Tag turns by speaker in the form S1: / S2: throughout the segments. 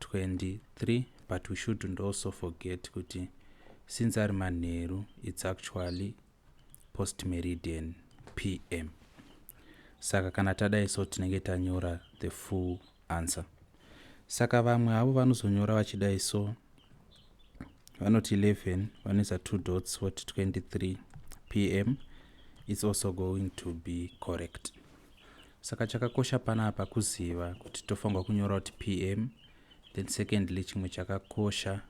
S1: 23 but we shouldn't also forget kuti since ari manheru it's actually post meridian pm saka kana tadai so tinenge tanyora the full answer saka vamwe havo vanozonyora vachidai so vanoti 11 vanoisa two dots voti 23 pm it's also going to be correct saka chakakosha panapa kuziva kuti tofanirwa kunyora kuti pm then secondly chimwe chakakosha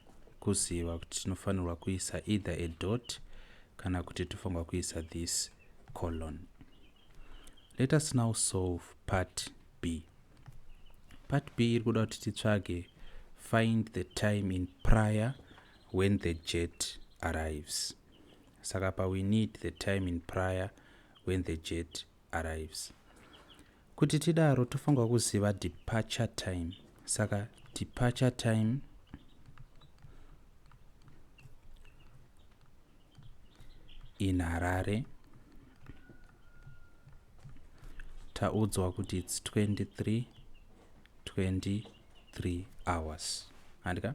S1: kuziva kuti tinofanirwa kuisa either a dot kana kuti tofanirwa kuisa this colon let us now solve part b part b iri kuda kuti titsvage find the time in prior when the jet arrives saka pa we need the time in prior when the jet arrives. Kuti tidaro tofanirwa kuziva departure time. Saka departure time in Harare taudzwa kuti it's 23 23 hours. Handika?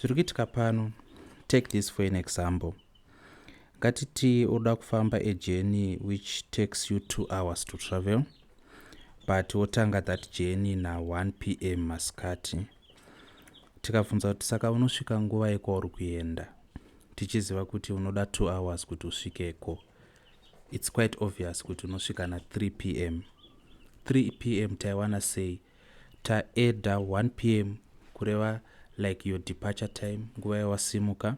S1: zviri kuitika pano take this for an example ngatiti unoda kufamba a journey which takes you two hours to travel but wotanga that journey na1 p m masikati tikabvunza kuti saka unosvika nguva yekwauri kuenda tichiziva kuti unoda two hours kuti usvikeko its quite obvious kuti unosvika na3 p m 3 p m taiwana sei taedha 1 pm kureva like your departure time nguva yawasimuka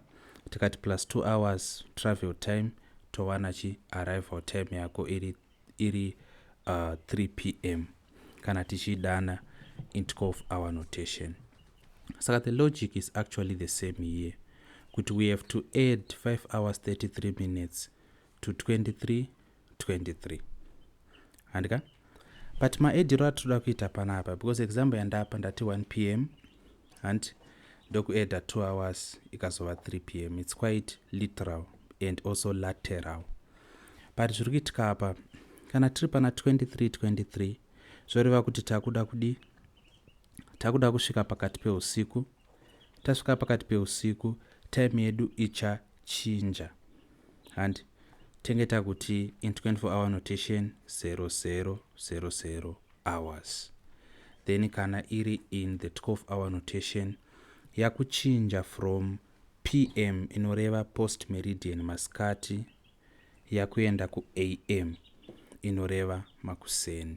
S1: tikati plus 2 hours travel time towana chi arrival time yako iri, iri uh, 3 pm kana tichidana intcof hour notation saka the logic is actually the same here kuti we have to add 5 hours 33 minutes to 23 23 handika but maediro atinoda kuita panapa because example yandapa ndati 1 p m hanti ndokueda 2 hours ikazova 3 p m its quite literal and also lateral but zviri kuitika apa kana tiri pana 23 23 zvoreva kuti takuda kudii takuda kusvika pakati peusiku tasvika pakati peusiku time yedu ichachinja handi tenge takuti in 24 hour notation 0000 hours then kana iri in the 12 hour notation yakuchinja from pm inoreva post meridian masikati yakuenda kuam inoreva makuseni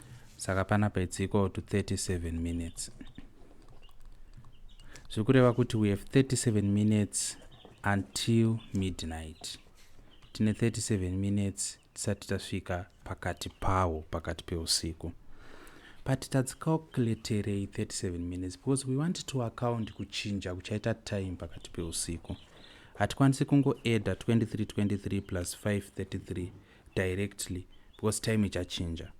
S1: saka panapa it's equal to 37 minutes zviri kureva kuti we have 37 minutes until midnight tine 37 minutes tisati tasvika pakati pawo pakati peusiku but tadzicalculaterei 37 minutes because we want to account kuchinja kuchaita time pakati peusiku hatikwanisi kungoedda 2323 plus 533 directly because time ichachinja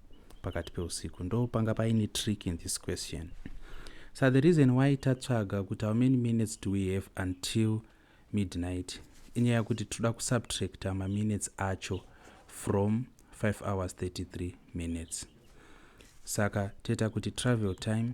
S1: pakati peusiku ndo panga paine trick in this question so the reason why tatsvaga kuti how many minutes do we have until midnight inyaya kuti toda kusubtracta maminutes acho from 5 hours 33 minutes saka toita kuti travel time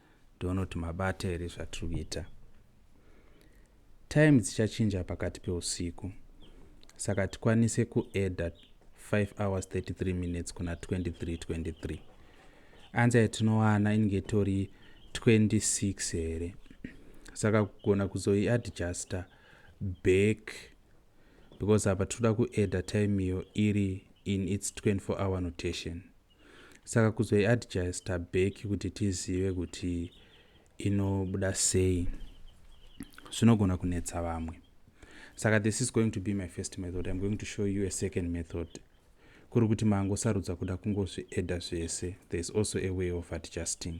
S1: tione kuti mabata here zvatiri kuita time dzichachinja pakati peusiku saka tikwanise kuedha 5 hours 33 minutes kuna 23 23 anza yatinowana inenge itori 26 here saka kugona kuzoiadjusta back because apa tinoda kuedha time iyo iri in its 24 hour notation saka kuzoiadjusta back kuti tizive kuti inobuda sei zvinogona kunetsa vamwe saka this is going to be my first method im going to show you a second method kuri kuti mangosarudza kuda kungozvieda zvese there is also a way of adjusting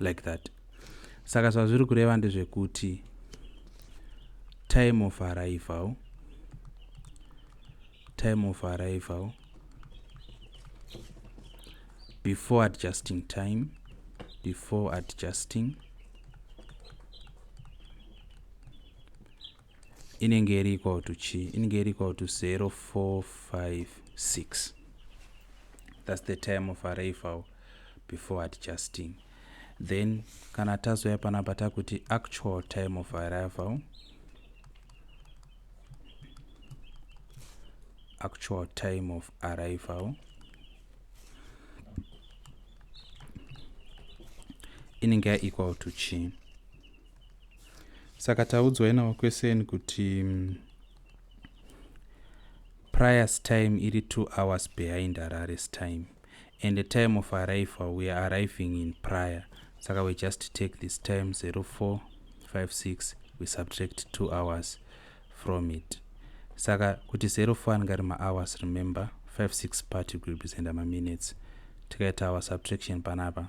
S1: like that saka zvazviri kureva ndezvekuti time of arrival time of arrival before adjusting time before adjusting inenge iri equal to chi inenge iri equal to 0456 that's the time of arrival before adjusting then kana tazouya panapa takuti actual time of arrival actual time of arrival inenge equal to chi saka taudzwai navakweseni kuti mm, prior time iri two hours behind harare's time and the time of arrival we are arriving in prior saka we just take this time 0456 we subtract two hours from it saka kuti 04 anenge ari mahours remember 56 party groups and maminutes tikaita our subtraction panapa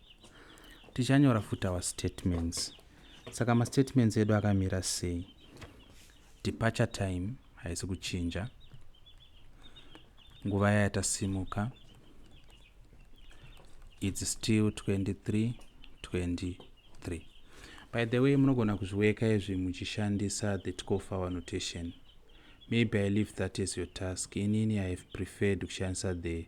S1: tichanyora futi our statements saka mastatements edu akamira sei departure time haisi kuchinja nguva yaya tasimuka its still 23 23 by the way munogona kuzviweka izvi muchishandisa the tkofa annotation maybe i leave that as your task inini i have preferred kushandisa the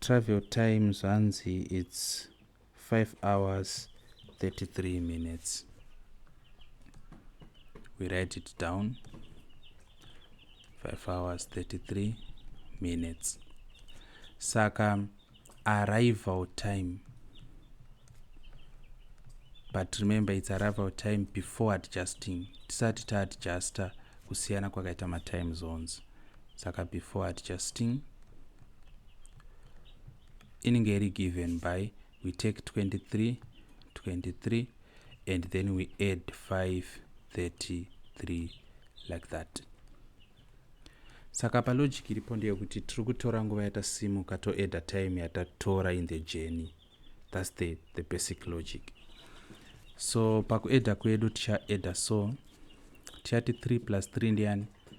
S1: travel time zvanzi its 5 hours 33 minutes we write it down 5 hours 33 minutes saka arrival time but remember its arrival time before adjusting tisati taadjuster kusiyana kwakaita matime zones saka before adjusting inenge iri given by we take 23 23 and then we add 533 like that saka palogic iripo ndeyekuti tiri kutora nguva yatasimuka toadda time yatatora in the journey thats the, the basic logic so pakuadda kwedu tichaadda so tichati 3 plus 3 ndiyani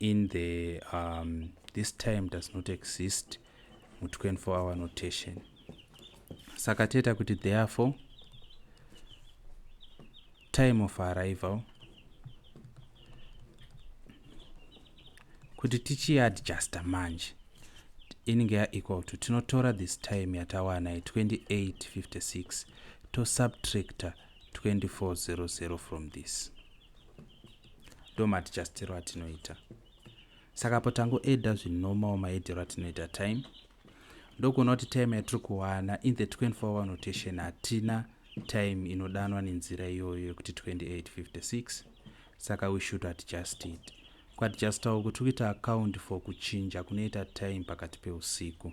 S1: in the um, this time does not exist mu 24 hour notation saka toita kuti therefore time of arrival kuti tichiadjusta manje inenge yaequal to tinotora this time yatawana ye 2856 tosubtracta 2400 from this ndo matichastiro atinoita saka apo tangoeda zvinomawo maedero atinoita time ndokuona kuti time yatiri kuwana in the 24 hour notation hatina time inodanwa nenzira iyoyo yekuti 2856 saka we should adjust it kuadjustawo kuti kuita account for kuchinja kunoita time pakati peusiku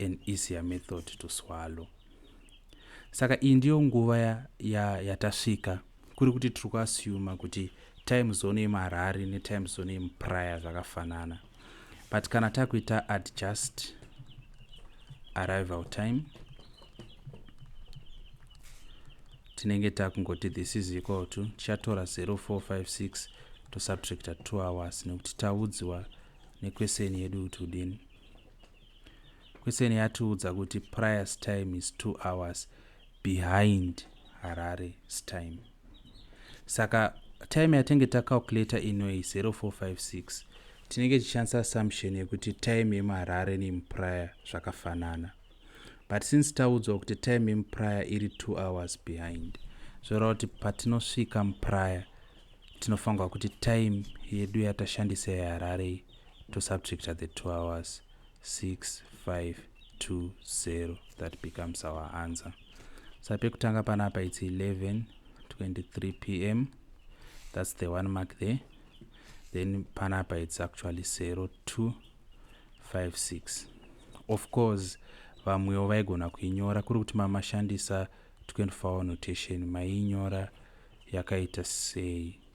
S1: an easier method to swallow saka iyi ndiyo nguva yatasvika ya, ya kuri kuti tiri kuasuma kuti time zone yemarari netime zone yemupraya zvakafanana but kana takuita adjust arrival time tinenge takungoti this is equal to tichatora 0456 tosubtracta 2 hours nekuti taudziwa nekweseni yedu kuti udini Kwesene yatiudza kuti Prior's time is two hours behind Harare's time. Saka time yatenge tacalculator inoyi 0456 tinenge tichishandisa assumption yekuti time yemuharare neyemuprior zvakafanana but since taudzwa kuti time yemuprior iri two hours behind zvoreva kuti patinosvika muprior tinofanirwa kuti time yedu yatashandisa yeharare tosubtracta the two hours 6520 that becomes our answer sa pekutanga pana apa its 11 23 pm that's the one mark there then pana apa its actually 0256 of course vamwewo vaigona kuinyora kuri kuti mamashandisa 24 hour notation maiinyora yakaita sei